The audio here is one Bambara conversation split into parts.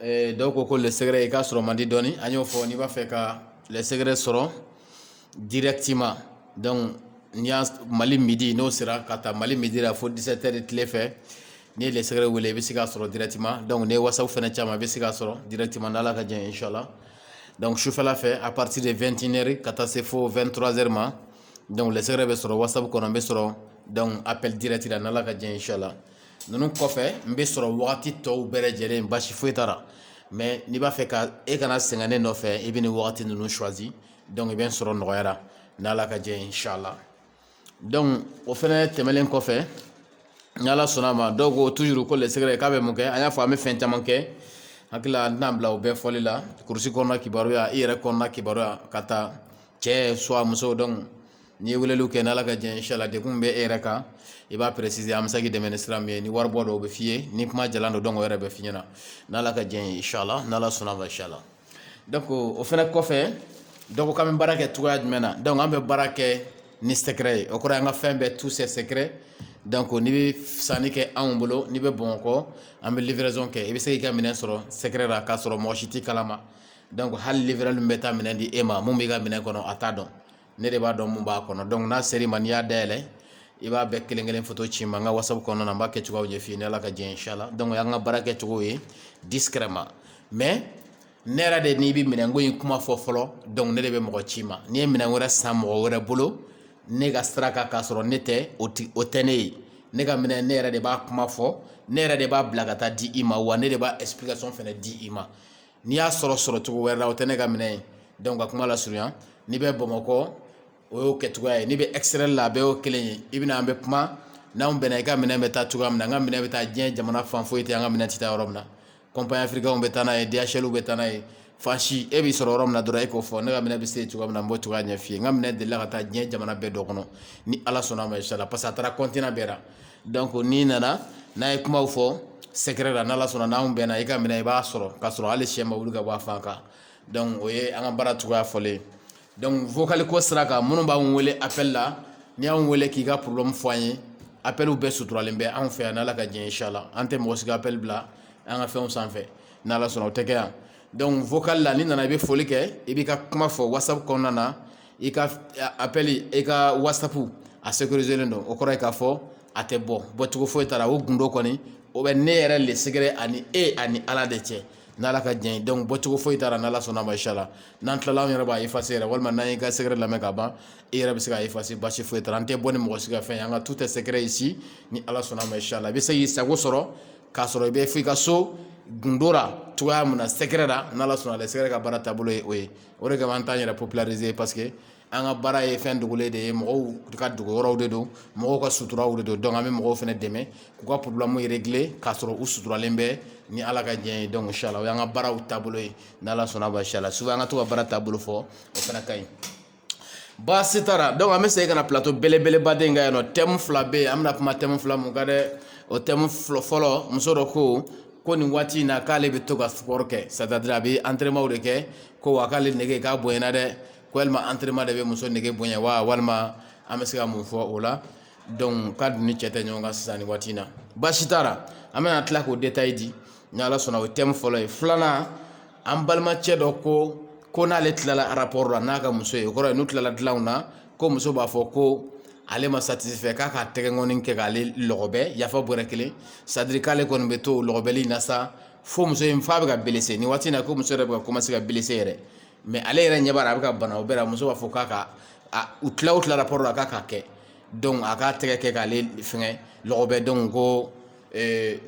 dɔw ko ko le secret i ka sɔrɔ man di dɔɔni an y'o fɔ n'i b'a fɛ ka le secret sɔrɔ directement donc n'i y'a mali midi n'o sera k'a ta mali midi la fo 17 heures tile fɛ n'i ye le secret wele i bɛ se k'a sɔrɔ directement donc n'i ye whatsapp fana ci a ma i bɛ se k'a sɔrɔ directement n'ala ka jɛn inshallah donc sufɛla fɛ à partir de 21 heures ka taa se fo 23 heures ma donc le secret bɛ sɔrɔ whatsapp kɔnɔ n bɛ sɔrɔ donc appel direct la n'ala ka jɛn inshallah ninnu kɔfɛ n bɛ sɔrɔ wagati tɔw bɛɛ lajɛlen basi foyi t'a la mais n'i b'a fɛ ka e kana sɛgɛn ne nɔfɛ i bɛ nin wagati ninnu choisir donc i bɛ n sɔrɔ nɔgɔya la n'ala ka jɛn inshallah donc o fɛnɛ tɛmɛlen kɔfɛ n'ala sɔnna a ma dɔw ko toujours ko le secret k'a bɛ mun kɛ an y'a fɔ an bɛ fɛn caman kɛ hakili la n tɛna bila o bɛɛ fɔli la kurusi kɔnɔna kibaruya i yɛrɛ kɔnɔna kibaruya k'a ta cɛ soit muso donc N'i ye weleliw kɛ n'Ala ka jɛn ye inchallah degun min bɛ e yɛrɛ kan i b'a préciser an bɛ se k'i dɛmɛ ni sira min ye ni waribɔ don o bɛ f'i ye ni kuma jalan don donc o yɛrɛ bɛ f'i ɲɛna n'Ala ka jɛn ye inchallah n'Ala sɔnn'a ma inchallah donc o fana kɔfɛ dɔ ko k'an bɛ baara kɛ cogoya jumɛn na donc an bɛ baara kɛ ni secret ye o kɔrɔ ye an ka fɛn bɛɛ tout c'est secret donc n'i bɛ sanni kɛ anw bolo n'i bɛ Bamakɔ an bɛ livraison kɛ i bɛ se k'i ka minɛn sɔrɔ secret la k'a sɔrɔ mɔgɔ si t'i kalama donc hali livreur min bɛ taa minɛn di e ma mun b'i ka minɛn kɔnɔ a t'a dɔn ne de b'a dɔn mun b'a kɔnɔ donc n'a sera i ma n'i y'a dayɛlɛn i b'a bɛɛ kelen kelen photo ci n ma n ka whatsapp kɔnɔna n b'a kɛ cogoyaw ɲɛf'i ye n'ala ka jɛn inshallah donc o y'an ka baara kɛ cogo ye discrètement mais ne yɛrɛ de n'i bɛ minɛn ko in kuma fɔ fɔlɔ donc ne de bɛ mɔgɔ ci i ma n'i ye minɛn wɛrɛ san mɔgɔ wɛrɛ bolo ne ka sira kan k'a sɔrɔ ne tɛ o tɛ ne ye ne ka minɛ ne yɛrɛ de b'a kuma fɔ ne yɛrɛ de b'a bila ka taa di i ma wa ne de b'a explication fana di i ma n'i y'a sɔrɔ sɔrɔ cogo wɛrɛ la o tɛ ne ka minɛ ye donc ka kuma lasurunya n'i bɛ bamakɔ o y'o kɛ cogoya ye n'i bɛ extérieur la a bɛɛ y'o kelen ye i bɛ na an bɛ kuma n'an bɛnna i ka minɛ bɛ taa cogoya min na an ka minɛ bɛ taa diɲɛ jamana fan foyi tɛ an ka minɛ tɛ taa yɔrɔ min na compagnie africainw bɛ taa n'a ye DHLw bɛ taa n'a ye fasi e bɛ sɔrɔ yɔrɔ min na dɔrɔn e k'o fɔ ne ka minɛ bɛ se cogoya min na n b'o cogoya ɲɛf'i ye n ka minɛ delila ka taa diɲɛ jamana bɛɛ dɔ kɔnɔ ni ala sɔnna ma inshallah parce que a taara continent bɛɛ donc n'i nana n'an ye kumaw fɔ secret la n'ala sɔnna n'anw bɛnna i ka minɛ i b'a sɔrɔ k'a sɔrɔ hali shɛ ma wuli ka bɔ a fan kan donc o ye an ka baara cogoya fɔlen ye donc vocal ko sira kan minnu b'an wele appel la n'i y'anw wele k'i ka problème fɔ an ye appeliw bɛɛ suturalen bɛ anw fɛ yan n'ala ka jɛn inshallah an tɛ mɔgɔ si ka appel bila an ka fɛnw sanfɛ n'ala sɔnna o tɛ kɛ yan donc vocal la n'i nana i bɛ foli kɛ i b'i ka kuma fɔ whatsapp kɔnɔna na i ka appel i ka whatsapp a sécurisélen don o kɔrɔ ye k'a fɔ a tɛ bɔ bɔcogo foyi t'a ra o gundo kɔni o bɛ ne yɛrɛ le secret ani e ani ala de cɛ n' ala ka jɛn donc bɔcogo foyi t'a ra n'ala sɔnna ma inshallah n'an tilala yɛrɛ b'a effacer yɛrɛ walima n'an ka secret lamɛn ka ban e yɛrɛ bɛ se k'a effacer baasi foyi t'a ra an tɛ bɔ ni mɔgɔ si ka fɛn ye an ka tout est secret ici ni ala sɔnna ma inshallah i bɛ se k'i sago sɔrɔ k'a sɔrɔ i bɛ fo i ka so gundo la cogoya min na secret la n'ala sɔnna le secret ka baara taabolo ye o ye o de kama an t'an yɛrɛ populariser ye parce que an ka baara ye fɛn dogolen de ye mɔgɔw ka dogoyɔrɔw de don mɔgɔw ka suturaw de don donc an bɛ mɔgɔw fana dɛmɛ k'u ka problèmew régler k'a sɔrɔ u suturalen bɛ ni ala ka jɛn donc inshallah o y'an ka baaraw taabolo ye n'ala sɔnna ma inshallah souvent an ka to ka baara taabolo fɔ o fana ka ɲi baasi t'a ra donc an bɛ segin ka na plateau belebeleba de in kan yan nɔ thème fila bɛ yen an bɛna kuma thème fila min kan dɛ o thème fɔlɔ muso dɔ ko ko nin waati in na k'ale bɛ to ka sport kɛ c'est-à-dire a bɛ entraînement de kɛ ko wa k'ale nege k'a bonyana dɛ ko walima entraînement de bɛ muso nege bonya wa walima an bɛ se ka mun fɔ o la donc k'a dun ni cɛ tɛ ɲɔgɔn kan sisan ni waati in na baasi t'a ra an bɛna tila k'o détail di ni ala sɔnna o thème fɔlɔ ye filanan an balimacɛ dɔ ko ko n'ale tilala rapport la n'a ka muso ye o kɔrɔ ye n'u tilala dilanw na ko muso b'a fɔ ko ale ma satisfait k'a ka tɛgɛkɔni kɛ k'ale lɔgɔbɛ yafa bɔrɛ kelen c'est-à-dire k'ale kɔni bɛ to lɔgɔbɛli na sa fo muso in fa bɛ ka blessé ni waati in na ko muso yɛrɛ bɛ ka commencer ka blessé yɛrɛ mais ale yɛrɛ ɲɛ b'a la a bɛ ka bana o bɛɛ la muso b'a fɔ k'a ka u tila o tila rapport la k'a k'a kɛ donc a k'a tɛgɛ kɛ k'ale fɛngɛ lɔgɔbɛ donc ko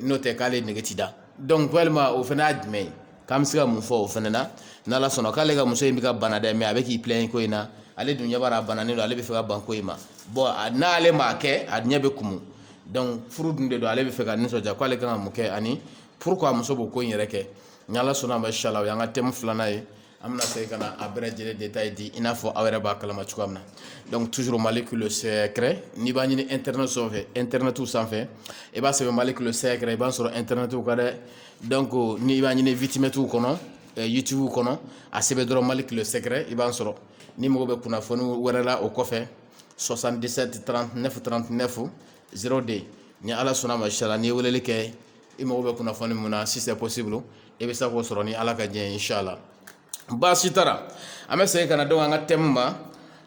n'o tɛ k'ale nege tɛ da donc walima o fana y'a jumɛn ye k'an bɛ se ka mun fɔ o fana na n' ala sɔnna k'ale ka muso in bɛ ka bana dɛ mais a bɛ k'i plaint ko in na ale dun ɲɛ b'a ra a bana donc ale bɛ fɛ ka ban ko in ma bon n'ale m'a kɛ a ɲɛ bɛ kumu donc furu dun de don ale bɛ fɛ k'a nisɔndiya k'ale ka kan ka mun kɛ ani pourquoi muso b'o ko in yɛrɛ kɛ ni ala sɔnna a ma inshallah o y'an ka thème filanan ye an bɛna segin ka na a bɛɛ lajɛlen détail di i n'a fɔ aw yɛrɛ b'a kalama cogoya min na donc toujours molécule secret n'i b'a ɲini internet sanfɛ internetiw sanfɛ i b'a sɛbɛn molécule secret i b'a sɔrɔ internetiw kan dɛ donc n'i b'a ɲini vidmatew kɔnɔ eh, youtube kɔnɔ a sɛbɛn dɔrɔn molécule secret i b'a sɔrɔ n'i mago bɛ kunnafoni wɛrɛ la o kɔfɛ 77 39 39 02 ni ala sɔnna ma inshallah n'i ye weleli kɛ i mago bɛ kunnafoni min na si c'est possible i bɛ se k'o sɔrɔ ni ala ka jɛn inshallah baasi t'a ra an bɛ segin ka na donc an ka thème ma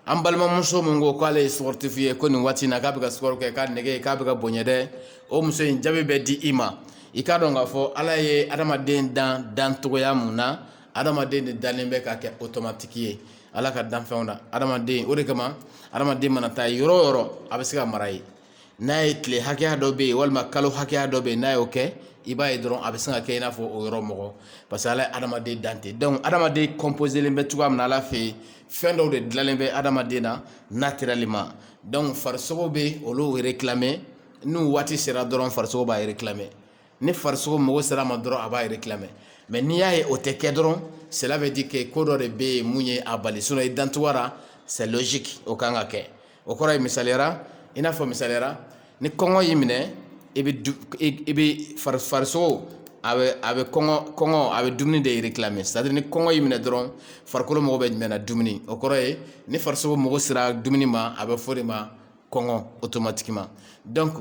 an balimamuso min ko k'ale ye sportif ye ko nin waati na k'a bɛ ka sport kɛ k'a nege k'a bɛ ka bonya dɛ o muso in jaabi bɛ di i ma i k'a dɔn k'a fɔ ala ye adamaden dan dancogoya min na adamaden de dalen bɛ k'a kɛ automatique ye ala ka danfɛnw na adamaden o de kama adamaden mana taa yɔrɔ yɔrɔ a bɛ se ka mara ye n'a ye tile hakɛya dɔ bɛ yen walima kalo hakɛya dɔ bɛ yen n'a y'o kɛ i b'a ye dɔrɔn a bɛ sin ka kɛ i n'a fɔ o yɔrɔ mɔgɔ parce que ala ye adamaden dan de donc adamaden composélen bɛ cogoya min na ala fɛ yen fɛn dɔw de dalen bɛ adamaden na naturellement donc farisogo bɛ olu réclamer n'u waati sera dɔrɔn farisogo b'a réclamer ni farisogo mago sera a ma dɔrɔn a b'a réclamer mais n'i y'a ye o tɛ kɛ dɔrɔn cela veut dire que ko dɔ de bɛ yen min ye a bali sinon i dancogoyara c'est logique o kan ka kɛ o kɔrɔ ye misaliyara i n'a fɔ misaliyara ni kɔngɔ y'i minɛ i bɛ du i i bɛ fari farisogo a bɛ a bɛ kɔngɔ kɔngɔ a bɛ dumuni de réclamer c'est à dire ni kɔngɔ y'i minɛ dɔrɔn farikolo mago bɛ jumɛn na dumuni o kɔrɔ ye ni farisogo mago sera dumuni ma a bɛ fɔ de ma kɔngɔ automatiquement donc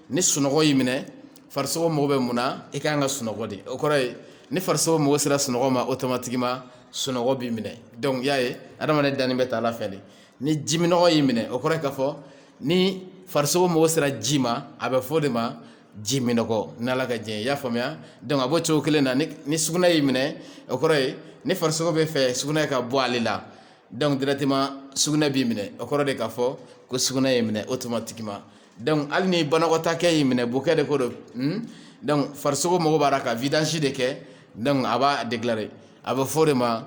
ni sunɔgɔ y'i minɛ farisogo mago bɛ mun na i ka kan ka sunɔgɔ de o kɔrɔ ye ni farisogo mago sera sunɔgɔ ma automatiquement sunɔgɔ b'i minɛ donc y'a ye adamaden dannen bɛ tan ala fɛ de ni jiminɔgɔ y'i minɛ o kɔrɔ ye ka fɔ ni farisogo mago sera ji ma a bɛ fɔ de ma jiminɔgɔ n ala ka diɲɛ i y'a faamuya donc a b'o cogo kelen na ni sugunɛ y'i minɛ o kɔrɔ ye ni farisogo b'a fɛ sugunɛ ka bɔ ale la donc directement sugunɛ b'i minɛ o kɔrɔ de ka fɔ ko sugunɛ y'i minɛ automatiquement donc hali ni banakɔtaa kɛ y'i minɛ bokɛ de ko don hmm? donc farisogo mago b'a la ka vidange de kɛ donc a b'a déclarer a bɛ fɔ de ma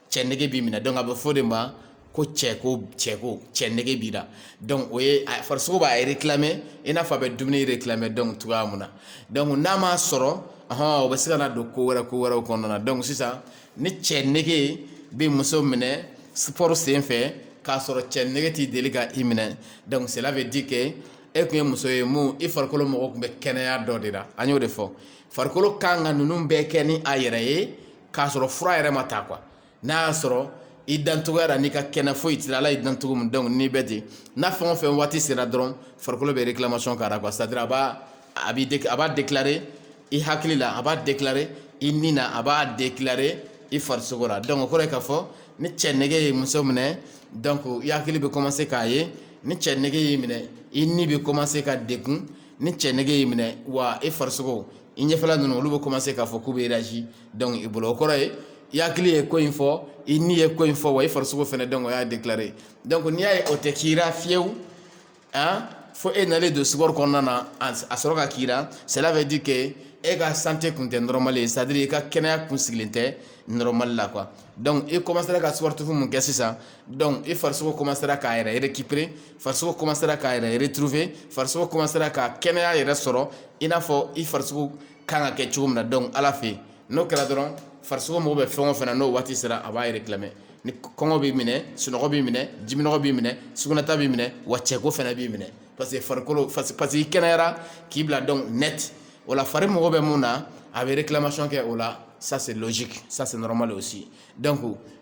cɛ nege b'i minɛ donc a bɛ fɔ de ma ko cɛ ko cɛ ko cɛ nege b'i la donc o ye farisogo b'a réclamer i n'a fɔ a bɛ dumuni réclamer donc cogoya min na donc n'a m'a sɔrɔ hɔn o bɛ se ka don ko wɛrɛ ko wɛrɛw kɔnɔna na donc sisan ni cɛ nege bɛ muso minɛ sport sen fɛ k'a sɔrɔ cɛ nege tɛ deli ka i minɛ donc cela veut dire que e tun ye muso ye min i farikolo mago tun bɛ kɛnɛya dɔ de la an y'o de fɔ farikolo kan ka ninnu bɛɛ kɛ ni a yɛrɛ ye k'a sɔrɔ fura yɛrɛ ma ta quoi n'a y'a sɔrɔ i dancogoyara n'i ka kɛnɛ foyi t'i la ala y'i dan cogo min donc n'i bɛ ten n'a fɛn o fɛn waati sera dɔrɔn farikolo bɛ réclamation k'a la quoi c'est à dire a b'a a bɛ a b'a déclarer i hakili la a b'a déclarer i ni na a b'a déclarer i farisogo la donc o kɔrɔ ye k'a fɔ ni cɛ nege ye muso minɛ donc i hakili bɛ commencer k'a ye ni cɛ nege y'i minɛ i ni bɛ commencer ka degun ni cɛ nege y'i minɛ wa i farisogo i ɲɛfɛla ninnu olu bɛ commencer k'a fɔ k'u bɛ réagir donc i bolo o kɔrɔ ye i hakili ye ko in fɔ i ni ye ko in fɔ wa i farisogo fɛnɛ donc o y'a déclarer donc n'i y'a ye o tɛ k'i la fiyewu hein, fo e nalen don sport kɔnɔna na a a sɔrɔ ka k'i la cela veut dire que e ka santé kun tɛ normal ye c'est à dire i ka kɛnɛya kun sigilen tɛ normal la quoi donc i commencera ka sport fɛn min kɛ sisan donc i farisogo commencera k'a yɛrɛ récupérer farisogo commencera k'a yɛrɛ retrouver farisogo commencera ka kɛnɛya yɛrɛ sɔrɔ i n'a fɔ i farisogo kan ka kɛ cogo min na donc Ala fɛ yen n'o kɛra dɔrɔn farisogo mago bɛ fɛn o fɛn na n'o waati sera a b'a réclamer ni kɔngɔ b'i minɛ sunɔgɔ b'i minɛ jiminɔgɔ b'i minɛ sugunɛta b'i minɛ wa cɛko fɛnɛ b'i minɛ parce que farikolo parce que i kɛnɛyara k'i bila donc net o la fari mago bɛ mun na a bɛ réclamation kɛ o la ça c'est logique ça c'est normal aussi donc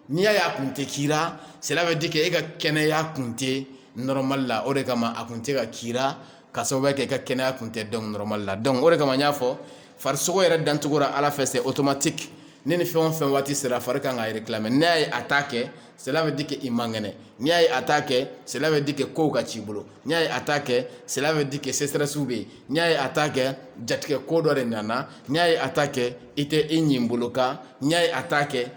n'i y'a ye a kun tɛ k'i la cela veut dire que e ka kɛnɛya kun tɛ normal la o de kama a kun tɛ ka k'i la ka sababuya kɛ i ka kɛnɛya kun tɛ donc normal la donc o de kama n y'a fɔ farisogo yɛrɛ dancogo la Ala fɛ c'est automatique ni ni fɛn o fɛn waati sera fari kan k'a réclamer n'i y'a ye a t'a kɛ cela veut dire que i man kɛnɛ n'i y'a ye a t'a kɛ cela veut dire que kow ka c'i bolo n'i y'a ye a t'a kɛ cela veut dire que stress bɛ yen n'i y'a ye a t'a kɛ jatigɛ ko dɔ de nana n'i y'a ye a t'a kɛ i tɛ i ɲin bolo kan n'i y'a ye a t'a kɛ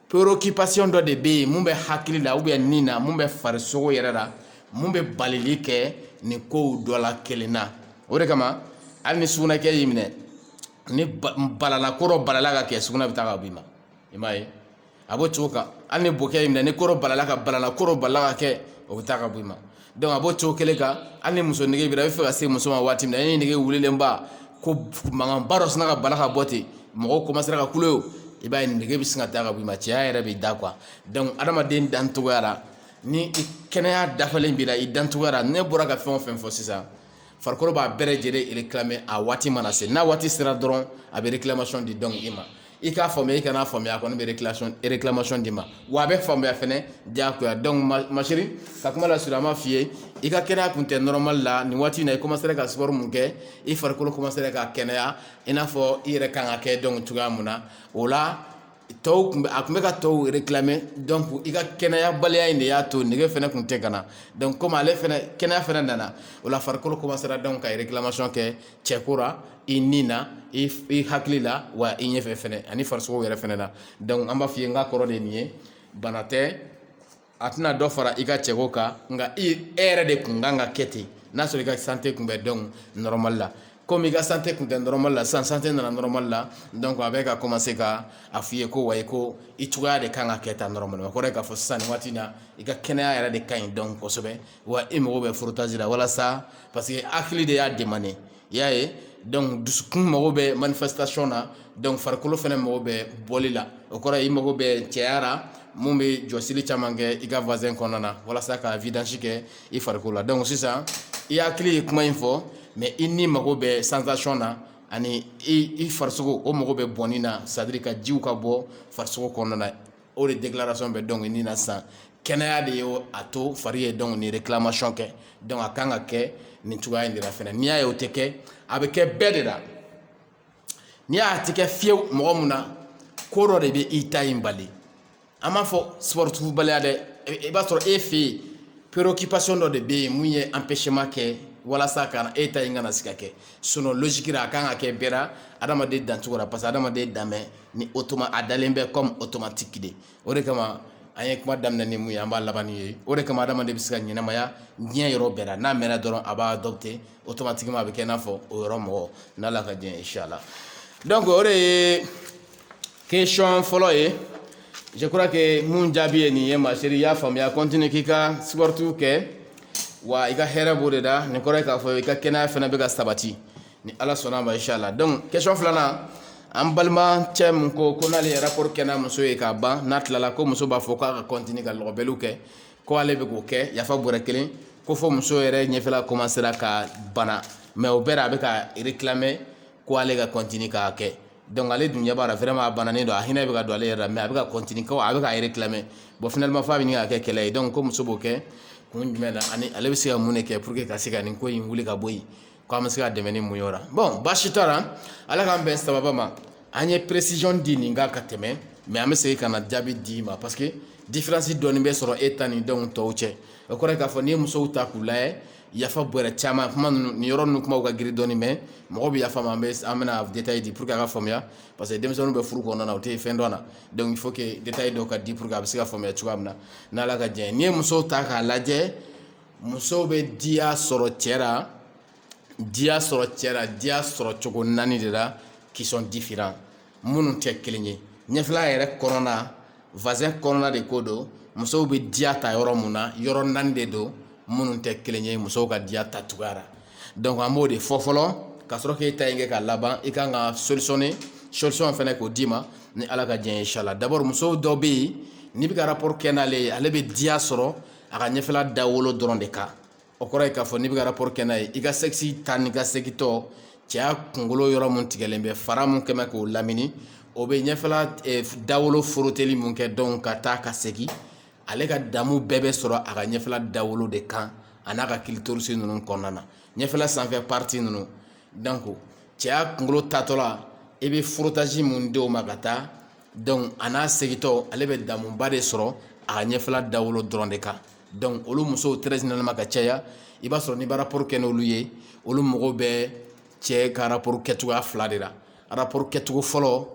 préoccupation dɔ de bɛ yen mun bɛ hakili la ou bien nin na mun bɛ farisogo yɛrɛ la mun bɛ balili kɛ nin kow dɔ la kelen na o de kama hali ni sugunɛkɛ y'i minɛ ni balala ko dɔ balala ka kɛ sugunɛ bɛ taa ka b'i ma i m'a ye a b'o cogo kan hali ni bokɛ y'i minɛ ni ko dɔ balala ka balala ko dɔ balala ka kɛ o bɛ taa ka bɔ i ma donc a b'o cogo kelen kan hali ni muso nege b'i la i bɛ fɛ ka se muso ma waati min na e nege wulilen ba ko mankanba dɔ sinna ka bala ka bɔ ten mɔgɔw commencera ka kule o i b'a ye nege bɛ sin ka taa ka bɔ i ma cɛya yɛrɛ b'i da quoi donc adamaden dancogoya la ni i kɛnɛya dafalen b'i la i dancogoya la ne bɔra ka fɛn o fɛn fɔ sisan farikolo b'a bɛɛ lajɛlen réclamer a waati mana se n'a waati sera dɔrɔn a bɛ réclamation di donc i ma i k'a faamuya i kana faamuya a kɔni bɛ réclamation d'i ma wa a bɛ faamuya fɛnɛ diyagoya donc ma chérie ka kuma lasurunya an b'a f'i ye i ka kɛnɛya kun tɛ normal la nin waati in na i commencera ka sport mun kɛ i farikolo commencera ka kɛnɛya i n'a fɔ i yɛrɛ kan ka kɛ donc cogoya mun na o la tɔw kun a kun bɛ ka tɔw réclamer donc i ka kɛnɛyabaliya in de y'a to nege fɛnɛ kun tɛ ka na donc comme ale fɛnɛ kɛnɛya fɛnɛ nana o la farikolo commencera donc ka réclamation kɛ cɛko ra i ni na i hakili la wa i ɲɛfɛ fɛnɛ ani farisogo yɛrɛ fɛnɛ na donc an b'a f'i ye n ka kɔrɔ de nin ye bana tɛ a tɛna dɔ fara i ka cɛko kan nka i e yɛrɛ de kun kan ka kɛ ten n'a sɔrɔ i ka santé kun bɛ donc normal la comme i ka santé kun tɛ normal la sisan santé nana normal la donc a bɛ ka commencer ka a f'i ye ko wa ko i cogoya de kan ka kɛ tan normalement o kɔrɔ k'a fɔ sisan nin waati in na i ka kɛnɛya yɛrɛ de ka ɲi donc kosɛbɛ wa i mago bɛ frottage la walasa parce que hakili de y'a demander i y'a ye donc dusukun mago bɛ manifestation na donc farikolo fɛnɛ mago bɛ bɔli la o kɔrɔ i mago bɛ cɛya la mun bɛ jɔsili caman kɛ i ka vagin kɔnɔna na walasa ka vidange kɛ i farikolo la donc sisan i hakili ye kuma in fɔ mais i ni mago bɛ sensation na ani i i farisogo o mago bɛ bɔnni na c'est à dire ka jiw ka bɔ farisogo kɔnɔna na o de déclaration bɛ donc nin na sisan kɛnɛya de ye a to fari ye donc ni réclamation kɛ donc a kan ka kɛ nin cogoya in de la fɛnɛ n'i y'a ye o tɛ kɛ a bɛ kɛ bɛɛ de la n'i y'a tɛ kɛ fiyewu mɔgɔ mun na ko dɔ de bɛ i ta in bali an b'a fɔ sportif baliya dɛ i b'a sɔrɔ e fɛ yen préoccupation dɔ de bɛ yen mun ye empêchement kɛ walasa ka e ta in kana se ka kɛ sinon logique la a kan ka kɛ bɛɛ la adamaden dancogo la parce que adamaden dan bɛ ni automa a dalen bɛ comme automatique de o de kama an ye kuma daminɛ ni mun ye an b'a laban n'o ye o de kama adamaden bɛ se ka ɲɛnamaya diɲɛ yɔrɔ bɛɛ la n'a mɛnna dɔrɔn a b'a adopter automatiquement a bɛ kɛ i n'a fɔ o yɔrɔ mɔgɔ n'Ala ka diɲɛ inchallah donc o de ye question fɔlɔ ye je crois que mun jaabi ye nin ye ma chérie i y'a faamuya continue k'i ka sport kɛ wa i ka hɛrɛ b'o de la nin kɔrɔ ye k'a fɔ i ka kɛnɛya fana bɛ ka sabati ni ala sɔnna ma inchallah donc question filanan an balimacɛ min ko ko n'ale ye rapport kɛ n'a muso ye k'a ban n'a tilala ko muso b'a fɔ k'a ka continuer ka lɔgɔbɛliw kɛ ko ale bɛ k'o kɛ yafa bɔrɛ kelen ko fɔ muso yɛrɛ ɲɛfɛla commencera ka bana mais o bɛɛ la a bɛ ka réclamer ko ale ka continuer k'a kɛ donc ale dun ɲɛ b'a la vraiment a bananen don a hinɛ bɛ ka don ale yɛrɛ la mais a bɛ ka continuer ko a bɛ ka réclamer bon finalement f'a bɛ ɲini ka kɛ kɛlɛ ye donc ko muso b'o kɛ kun jumɛn na ani ale bɛ se ka mun de kɛ pour que ka se ka nin ko in wuli ka bɔ yen Ko an bɛ se ka dɛmɛ ni mun ye o la bon baasi t'a la Ala k'an bɛn sababa ma an ye précision di nin kan ka tɛmɛ mais an bɛ segin ka na jaabi d'i ma parce que différence dɔɔni bɛ sɔrɔ e ta ni denw tɔw cɛ o kɔrɔ ye k'a fɔ n'i ye musow ta k'u lajɛ yafa bɔrɛ caman kuma ninnu nin yɔrɔ ninnu kumaw ka girin dɔɔni mais mɔgɔw bɛ yafa ma an bɛ an bɛna détail di pour que a ka faamuya parce que denmisɛnninw bɛ furu kɔnɔna na u tɛ fɛn dɔn a la donc il faut que détail dɔw ka di pour que a bɛ se ka faamuya cogoya min na n'Ala ka diɲɛ ye n'i ye musow ta k'a lajɛ musow bɛ diya sɔrɔ cɛ la diya sɔrɔ cɛ la diya sɔrɔ cogo naani de la qui sont différents minnu tɛ kelen ye ɲɛfɛla yɛrɛ kɔnɔna vagin kɔnɔna de ko don musow bɛ diya ta yɔrɔ mun na yɔrɔ naani de don minnu tɛ kelen ye musow ka diya ta cogoya la donc an b'o de fɔ fɔlɔ ka sɔrɔ k'e ta in kɛ ka laban i kan ka solutionner solution fana k'o d'i ma ni ala ka diɲɛ ye inchallah d'abord musow dɔ bɛ yen n'i bɛ ka rapport kɛ n'ale ye ale bɛ diya sɔrɔ a ka ɲɛfɛla dawolo dɔrɔn de kan o kɔrɔ ye k'a fɔ n'i bɛ ka rapport kɛ n'a ye i ka sexe taa ni ka segintɔ cɛya kunkolo yɔrɔ mun tigɛlen bɛ fara mun kɛmɛ k'o lamini o bɛ ɲɛfɛla eh, dawolo foroteli mun kɛ donc ka taa ka segin ale ka damu bɛɛ bɛ sɔrɔ a ka ɲɛfɛla dawolo de kan a n'a ka clitoris ninnu kɔnɔna na ɲɛfɛla sanfɛ partie ninnu donc cɛya kunkolo taatɔ la i bɛ frottage mun di o ma ka taa a n'a segintɔ ale bɛ damuba de sɔrɔ a ka ɲɛfɛla dawolo dɔrɔn de kan donc olu musow très généralement ka caya i b'a sɔrɔ n'i b'a rapport kɛ n'olu ye olu mago bɛ cɛ ka rapport kɛcogoya fila de la rapport kɛcogo fɔlɔ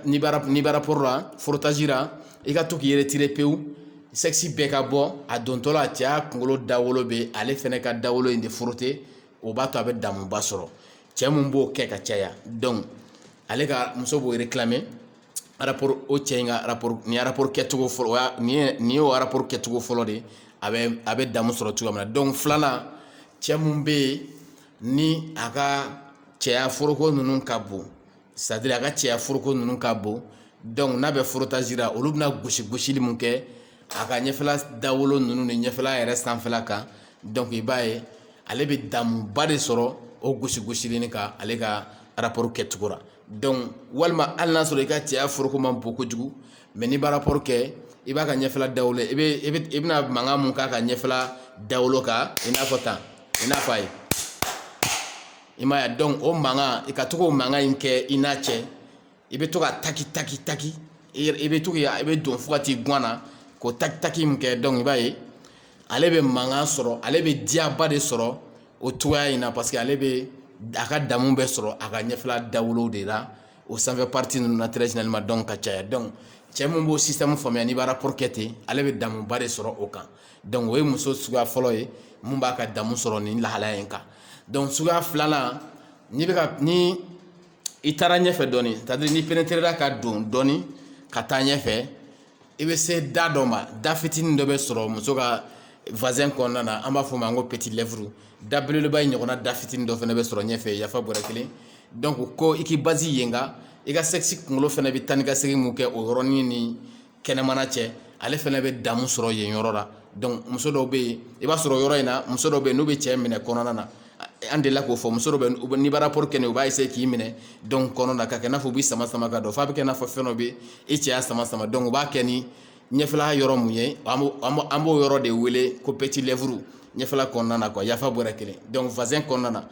n'i b'a rapport la frottage la i ka to k'i retirer pewu sexe bɛɛ ka bɔ a dontɔ la a cɛya kunkolo dawolo bɛ ale fana ka dawolo in de frotter o b'a to a bɛ damuba sɔrɔ cɛ mun b'o kɛ ka caya donc ale ka muso b'o réclamer rapport o cɛ in ka rapport nin rapport kɛcogo fɔlɔ o y'a nin ye nin y'o rapport kɛcogo fɔlɔ de ye a bɛ a bɛ damu sɔrɔ cogoya min na donc filanan cɛ mun bɛ yen ni a ka cɛya foroko ninnu ka bon c'est à dire a ka cɛya foroko ninnu ka bon donc n'a bɛ frottage la olu bɛna gosi gosili mun kɛ a ka ɲɛfɛla dawolo ninnu ni ɲɛfɛla yɛrɛ sanfɛla kan donc i b'a ye ale bɛ damuba de sɔrɔ o gosi gosili nin kan ale ka rapport kɛcogo la donc walima hali n'a sɔrɔ i ka cɛya foroko man bon kojugu mais n'i b'a rapport kɛ i b'a ka ɲɛfɛla dawolo i i bɛna mankan mun k'a ka ɲɛfɛla dawolo kan i n'a fɔ tan i n'a fɔ a ye i m'a ye donc o mankan i ka to k'o mankan in kɛ i n'a cɛ i bɛ to ka taki taki taki i bɛ to i bɛ don fo ka t'i gan na k'o taki taki min kɛ donc i b'a ye ale bɛ mankan sɔrɔ ale bɛ diyaba de sɔrɔ o cogoya in na parce que ale bɛ a ka damu bɛɛ sɔrɔ a ka ɲɛfɛla dawolo de la o sanfɛ partie ninnu na très généralement donc ka caya donc cɛ min b'o système faamuya n'i b'a rapport kɛ ten ale bɛ damuba de sɔrɔ o kan donc o ye muso suguya fɔlɔ ye min b'a ka damu sɔrɔ nin lahalaya in kan donc suguya filanan ni bɛ ka ni i taara ɲɛfɛ dɔɔni c'est à dire n'i pénétrera ka don dɔɔni ka taa ɲɛfɛ i bɛ se da dɔ ma da fitinin dɔ bɛ sɔrɔ muso ka vagin kɔnɔna na an b'a fɔ o ma ko petit lèvre da belebeleba in ɲɔgɔnna da fitinin dɔ fana bɛ sɔrɔ ɲɛfɛ yafa bɔrɛ kelen donc ko i k'i baser yen kan i ka sexe kunkolo fana bɛ taa ni ka segin mun kɛ o yɔrɔnin ni kɛnɛmana cɛ ale fana bɛ damu sɔrɔ yen yɔrɔ la donc muso dɔw bɛ yen i b'a sɔrɔ yɔrɔ in na muso dɔw bɛ yen n'u bɛ cɛ minɛ kɔnɔna na an delila k'o fɔ muso dɔw bɛ n'i b'a rapport kɛ u b'a essayer k'i minɛ donc kɔnɔna na ka kɛ i n'a fɔ u b'i sama sama ka don f'a bɛ kɛ i n'a fɔ fɛn dɔ bɛ e cɛya sama sama donc u b'a kɛ ni ɲɛfɛla yɔrɔ mun ye an b'o yɔrɔ de wele ko petit lèvre ɲɛfɛla kɔnɔna na yafafa bɔra kelen donc vagin kɔnɔna na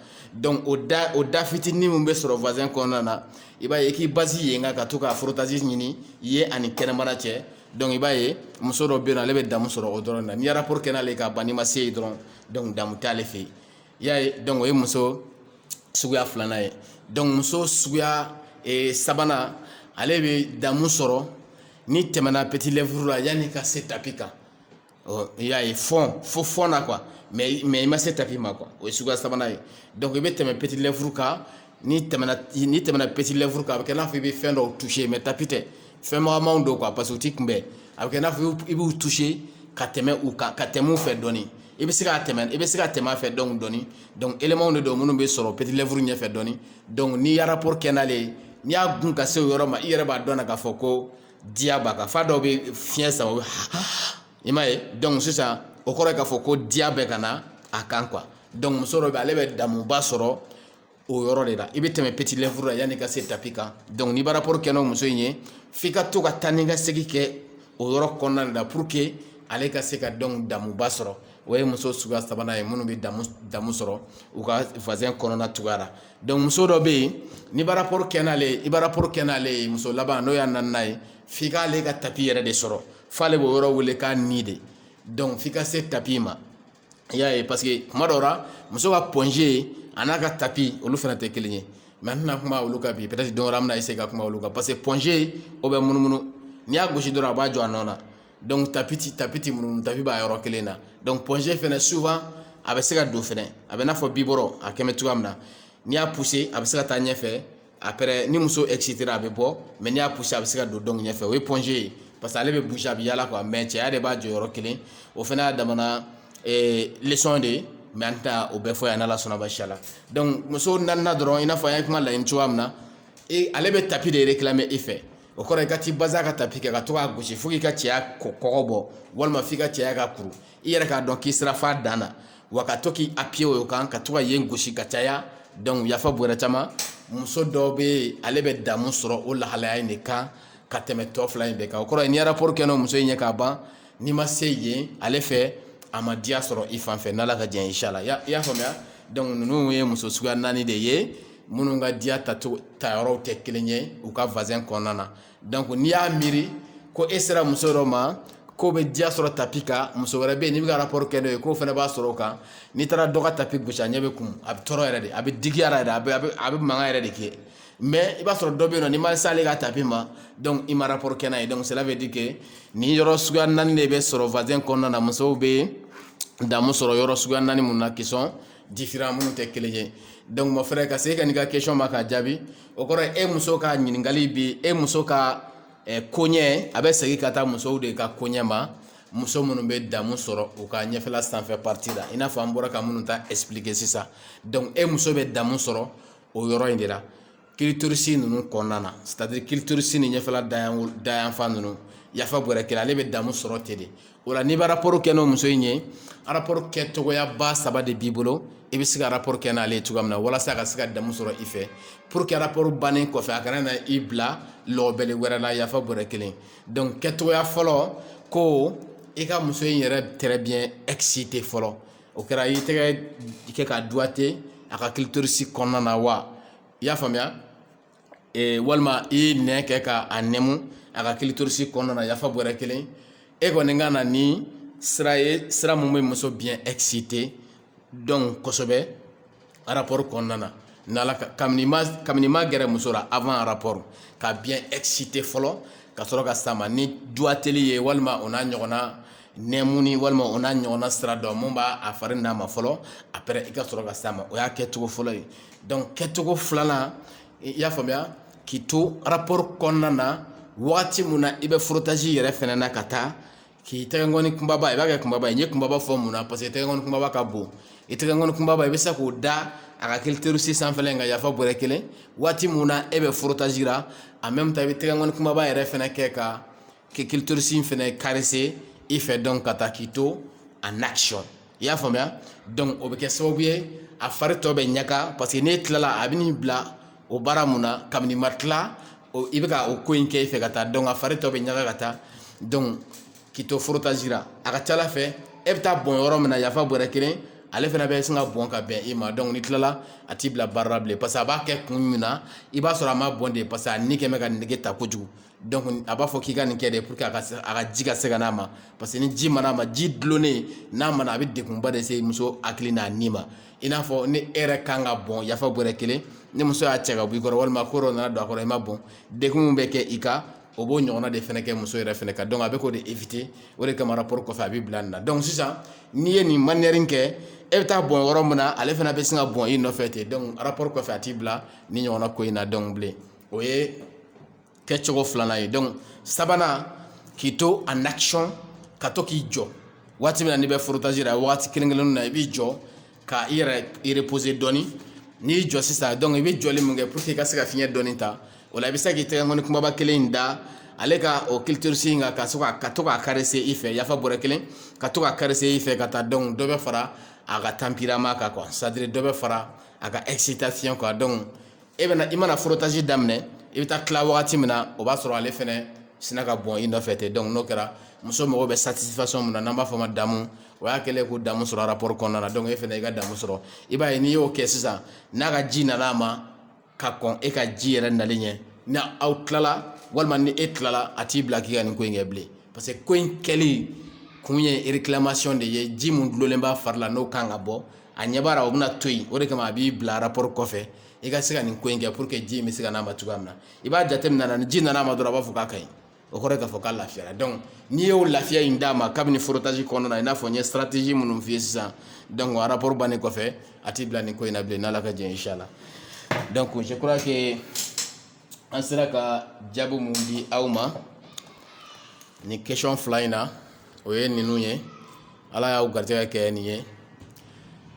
o da o da fitinin min bɛ sɔrɔ vagin kɔnɔna na i b'a ye i k'i baser yen kan ka to ka frottage ɲini yen ani kɛnɛmana cɛ donc i b'a ye muso dɔ bɛ yen ale bɛ damu sɔrɔ o dɔrɔn na n'i ye rapport kɛ n'ale ka ban n'i ma se yen dɔrɔn damu t'ale fɛ yen i y'a ye o ye muso suguya filanan ye muso suguya sabanan ale bɛ damu sɔrɔ n'i tɛmɛna petit lèvre la yanni ka se tapi kan ɔ i y'a ye fond fo fond na quoi mais mais i ma se tapi ma quoi o ye suguya sabanan ye donc i bɛ tɛmɛ petit lèvre kan n'i tɛmɛna n'i tɛmɛna petit lèvre kan a bɛ kɛ i n'a fɔ i bɛ fɛn dɔw toucher mais tapi tɛ fɛn magamanw don quoi parce que u t'i kunbɛn a bɛ kɛ i n'a fɔ i b'u toucher ka tɛmɛ u kan ka tɛmɛ u fɛ dɔɔni i bɛ se ka tɛmɛ i bɛ se ka tɛmɛ a fɛ donc dɔɔni donc éléments de don minnu bɛ sɔrɔ petit lèvre ɲɛfɛ dɔɔni donc n'i y'a rapport kɛ n'ale ye n'i y'a gun ka se o yɔrɔ ma i yɛrɛ b'a dɔn na k'a fɔ ko diya b'a kan fa dɔw bɛ fiɲɛ sama u bɛ i m'a ye donc sisan o kɔrɔ ye k'a fɔ ko diya bɛ ka na a kan quoi donc muso dɔ bɛ ale bɛ damuba sɔrɔ o yɔrɔ de la i bɛ tɛmɛ petit lèvre la yanni i ka se tapi kan donc n'i bɛ rapport kɛ n'o muso in ye f'i ka to ka taa ni ka segin kɛ o yɔrɔ kɔnɔna de la pour que ale ka se ka donc damuba sɔrɔ o ye muso suguya sabanan ye minnu bɛ damu damu sɔrɔ u ka vagin kɔnɔna cogoya la Donc muso dɔ bɛ yen n'i bɛ rapport kɛ n'ale ye i bɛ rapport kɛ n'ale ye muso laban n'o y'a naaninan ye f'i k'ale ka tapi yɛrɛ de sɔrɔ f'ale b'o yɔrɔ wele k'a ni de donc f'i ka se tapi ma i y'a ye parce que tuma dɔw la muso ka point G a n'a ka tapi olu fana tɛ kelen ye mais an tɛna kuma olu kan bi peut-être don wɛrɛ an bɛna essayer ka kuma olu kan parce que point G o bɛ munumunu n'i y'a gosi dɔrɔn a b'a jɔ a nɔ na donc tapi tɛ tapi tɛ munumunu tapi b'a yɔrɔ kelen na donc point G fana souvent a bɛ se ka don fana a bɛ n'a fɔ biberon a kɛlen bɛ cogoya min na n'i y'a pousser a bɛ se ka taa ɲɛfɛ après ni muso excitera a bɛ bɔ mais n'i y'a pousser a bɛ se ka don donc ɲɛfɛ o ye point G ye parce que ale bɛ bouger a bɛ yaala quoi mais cɛya de b'a jɔ yɔrɔ kelen o fana y'a damana leçon de ye mais an tɛna o bɛɛ fɔ yan n'ala sɔnna baasi la donc muso naaninan dɔrɔn i n'a fɔ an ye kuma laɲini cogoya min na ale bɛ tapi de réclamer i fɛ o kɔrɔ i ka t'i baser a ka tapi kan ka to k'a gosi fo k'i ka cɛya kɔ kɔgɔ bɔ walima f'i ka cɛya ka kuru i yɛrɛ k'a dɔn k'i sera f'a dan na wa ka to k'i appuyer o kan ka to ka yen gosi ka caya donc yafa bɔrɛ caman muso dɔ bɛ yen ale bɛ damu sɔrɔ o lahalaya in de kan ka tɛmɛ tɔ fila in bɛɛ kan o kɔrɔ ye n'i ye rapport kɛ n'o muso in ye k'a ban n'i ma se yen ale fɛ a ma diya sɔrɔ i fan fɛ n'ala ka diɲɛ insha Allah i y'a faamuya donc ninnu ye muso suguya naani de ye minnu ka diya ta yɔrɔw tɛ kelen ye u ka vagin kɔnɔna na donc n'i y'a miiri ko e sera muso dɔ ma k'o bɛ diya sɔrɔ tapi kan muso wɛrɛ bɛ yen n'i bɛ ka rapport kɛ n'o ye k'o fana b'a sɔrɔ o kan n'i taara dɔ ka tapi gosi a ɲɛ bɛ kumu a bɛ tɔɔrɔ yɛrɛ de a bɛ digiya yɛrɛ de a bɛ a bɛ mankan yɛrɛ de kɛ mais i b'a sɔrɔ dɔ bɛ yen nɔ n'i ma s'ale ka tapi ma donc i ma rapport kɛ n'a ye donc cela veut dire que nin yɔrɔ suguya naani de bɛ sɔrɔ vagin kɔnɔna na musow bɛ damu sɔrɔ yɔrɔ suguya naani min na qui sont différents minnu tɛ kelen ye donc mon frère ka se ka n'i ka question ma k'a jaabi o kɔrɔ ye e muso ka ɲininkali bi e muso ka eh, koɲɛ a bɛ segin ka taa musow de ka koɲɛ ma muso minnu bɛ damu sɔrɔ u ka ɲɛfɛla sanfɛ partie la i n'a fɔ an bɔra ka minnu ta expliquer sisan donc e muso bɛ damu sɔrɔ o yɔrɔ in de la clitoris ninnu kɔnɔna na c'est à dire clitoris ni ɲɛfɛla dayanfan ninnu yafa bɔrɛ kelen ale bɛ damu sɔrɔ ten de o la n'i bɛ rapport kɛ n'o muso in ye rapport kɛcogoyaba saba de b'i bolo i bɛ se ka rapport kɛ n'ale ye cogoya min na walasa a ka se ka damu sɔrɔ i fɛ pour que rapport bannen kɔfɛ a kana na i bila lɔbele wɛrɛ la yafa bɔrɛ kelen donc kɛcogoya fɔlɔ ko i ka muso in yɛrɛ très bien exciter fɔlɔ o kɛra i tɛgɛ kɛ ka doigter a ka clitoris kɔnɔna na wa i y'a faamuya ee, walima i nɛn kɛ ka a nɛmu a ka clitoris kɔnɔna na yafa bɔrɛ kelen e kɔni ka na ni sira ye sira min bɛ muso bien exciter donc kosɛbɛ rapport kɔnɔna na kabini ma gɛrɛ muso la avant rapport ka bien exciter fɔlɔ ka sɔrɔ ka s'a ma ni doigteli ye walima o n'a ɲɔgɔnna nɛmuni walima o n'a ɲɔgɔnna sira dɔ min b'a a fari n'a ma fɔlɔ après i ka sɔrɔ ka s'a ma o y'a kɛcogo fɔlɔ ye donc kɛcogo filanan i y'a faamuya k'i to rapport kɔnɔna na waati min na i bɛ frottage yɛrɛ fɛnɛ na ka taa k'i tɛgɛnkɔni kunbaba i b'a kɛ kunbaba ye n ye kunbaba fɔ mun na parce que tɛgɛnkɔni kunbaba ka bon i tɛgɛnkɔni kunbaba i bɛ se k'o da a ka clitoris sanfɛla kan yafa bɔrɛ kelen waati mun na e bɛ frottage la en même temps i bɛ tɛgɛnkɔni kunbaba yɛrɛ fɛnɛ kɛ ka clitoris in fɛnɛ caresser i fɛ donc ka taa k'i to en action i y'a faamuya o bɛ kɛ sababu ye a fari tɔ bɛ ɲaga parce que n'e tilala a bɛ n'i bila o baara mun na kabini ma tila i bɛ ka o ko in kɛ i fɛ ka taa donc a fari tɔ bɛ ɲaga ka taa k'i to frottage la a ka ca ala fɛ e bɛ taa bɔn yɔrɔ min na yafa bɔrɛ kelen ale fana bɛ sin ka bɔn ka bɛn e ma donc n'i tilala a t'i bila baara la bilen parce que a b'a kɛ kun min na i b'a sɔrɔ a ma bɔn de parce que a ni kɛ bɛ ka nege ta kojugu a b'a fɔ k'i ka nin kɛ de pour que a ka ji ka se ka n'a ma parce que ni ji ma na ma ji dulonnen n'a ma na a bɛ degunba de se muso hakili n'a ni ma i n'a fɔ ni e yɛrɛ kan ka bɔn yafa bɔrɛ kelen ni muso y'a cɛ ka bɔ i kɔrɔ walima ko dɔ nana don a kɔrɔ i ma bɔn degun min bɛ kɛ i kan o b'o ɲɔgɔnna de fɛnɛ kɛ muso yɛrɛ fɛnɛ kan donc a bɛ k'o de éviter o de kama rapport kɔfɛ a b'i bila nin na donc sisan n'i ye nin manière kɛ e bɛ taa bɔn yɔrɔ min na ale fana bɛ sin ka bɔn i nɔfɛ ten donc rapport kɔfɛ a t'i bila nin ɲɔgɔnna ko in na donc bilen o ye kɛcogo filanan ye donc sabanan k'i to en action ka to k'i jɔ waati min na n'i bɛ frottage la waati kelen kelenninw na i b'i jɔ ka i yɛrɛ reposer dɔɔni n'i y'i jɔ sisan donc i bɛ jɔli min kɛ pour que i ka se ka fiɲɛ dɔɔni ta o la i bɛ se k'i tɛgɛnkɔni kunbaba kelen in da ale ka o clitoris in kan ka se ka ka to k'a caresser i fɛ yafa bɔrɛ kelen ka to k'a caresser i fɛ ka taa donc dɔ bɛ fara a ka tempérament kan quoi c'est à dire dɔ bɛ fara a ka excitation kan donc e bɛna i mana frottage daminɛ i bɛ taa tila wagati min na o b'a sɔrɔ ale fɛnɛ sinna ka bɔn i nɔfɛ ten donc n'o kɛra muso mago bɛ satisfaction min na n'an b'a fɔ o ma damu o y'a kɛlen ko damu sɔrɔ rapport kɔnɔna na donc e fɛnɛ i ka damu sɔrɔ i b'a ye n'i y'o kɛ sisan n'a ka ji nana a ma ka kɔn e ka ji yɛrɛ nali ɲɛ ni aw tilala walima ni e tilala a t'i bila k'i ka nin ko in kɛ bilen parce que ko in kɛli kun ye réclamation de ye ji mun dulolen b'a fari la n'o kan ka bɔ a ɲɛ b'a la o bɛna to yen o de kama a b'i bila rapport kɔfɛ i ka se ka nin ko in kɛ pour que ji in bɛ se ka n'a ma cogoya min na i b'a jateminɛ ni ji nana a ma dɔrɔn a b'a fɔ k'a ka ɲi o kɔrɔ ye k'a fɔ k'a lafiyara donc n'i y'o lafiya in d'a ma kabini frottage kɔnɔna na i n'a fɔ n ye stratégie minnu f'i ye sisan donc rapport bannen kɔfɛ a t'i bila nin ko in na bilen n'ala ka jɛ inchallah donc je crois que an sera ka jaabi minnu di aw ma nin question fila in na o ye ninnu ye ala y'aw garijɛgɛ kɛ nin ye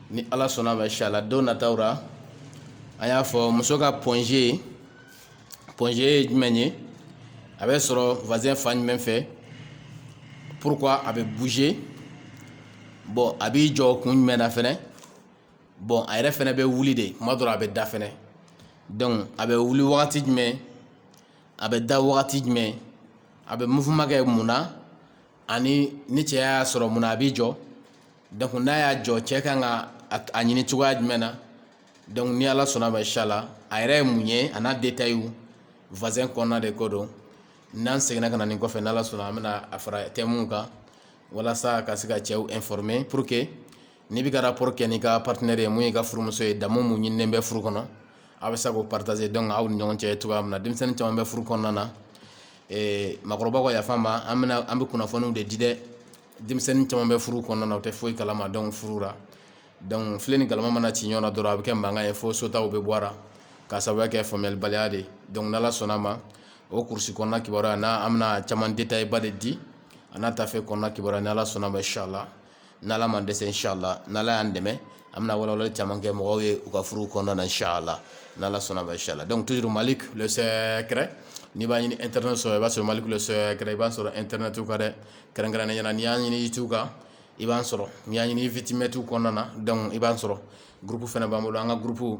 ni ala sɔnna ma inchallah don nataw la an y'a fɔ muso ka point g point g ye jumɛn ye a bɛ sɔrɔ vagin fan jumɛn fɛ pourquoi a bɛ bouger bon a b'i jɔ kun jumɛn na fɛnɛ bon a yɛrɛ fɛnɛ bɛ wuli de kuma dɔ la a bɛ da fɛnɛ donc a bɛ wuli wagati jumɛn a bɛ da wagati jumɛn a bɛ mouvement kɛ mun na ani ni cɛ y'a sɔrɔ mun na a b'i jɔ donc n'a y'a jɔ cɛ kan ka a ɲini cogoya jumɛn na donc ni ala sɔnna ma inchallah a yɛrɛ ye mun ye a n'a détail vagin kɔnɔna de ko don n'an seginna ka na nin kɔfɛ ni ala sɔnna an bɛna a fara thème kan walasa ka se ka cɛw informer pour que n'i bɛ ka rapport kɛ n'i ka partenaire ye mun y'i ka furumuso ye damu mun ɲininen bɛ furu kɔnɔ a bɛ se k'o partager donc aw ni ɲɔgɔn cɛ cogoya min na denmisɛnnin caman bɛ furu kɔnɔna na ee makɔrɔbaw ka yafa n ma an bɛna an bɛ kunnafoniw de di dɛ denmisɛnnin caman bɛ furu kɔnɔna na u tɛ foyi kalama donc furu la donc filen ni galama mana ci ɲɔgɔn na dɔrɔn a bɛ kɛ mankan ye fo sotaw bɛ bɔ a la k'a sababuya kɛ faamuyalibaliya de ye donc n'ala sɔnna a ma o kurusi kɔnɔna kibaruya na an bɛna caman détail ba de di a n'a tafe kɔnɔna kibaruya n'ala sɔnna a ma inchallah n' ala ma dɛsɛ si la n' y'an dɛmɛ an bɛna walawa caman kɛ mɔgɔw ye u ka furu kɔnɔna na si la n' ala sɔnna bɛ si la dɔnkuc tuur mali sɛɛrɛ n'i b'a ɲini ntɛnɛn sɔrɔ i b'a sɔrɔ mali sɛɛrɛ i b'a sɔrɔ n ntɛnɛnɛnɛ tu ka dɛ kɛrɛnkɛrɛn ɲɛna n'i y'a ɲini i tu kan i b'a sɔrɔ n'i y'a ɲini fitimɛtu kɔnɔna na dɔnku i b'a sɔrɔ guruf fana b'an bolo an ka guruf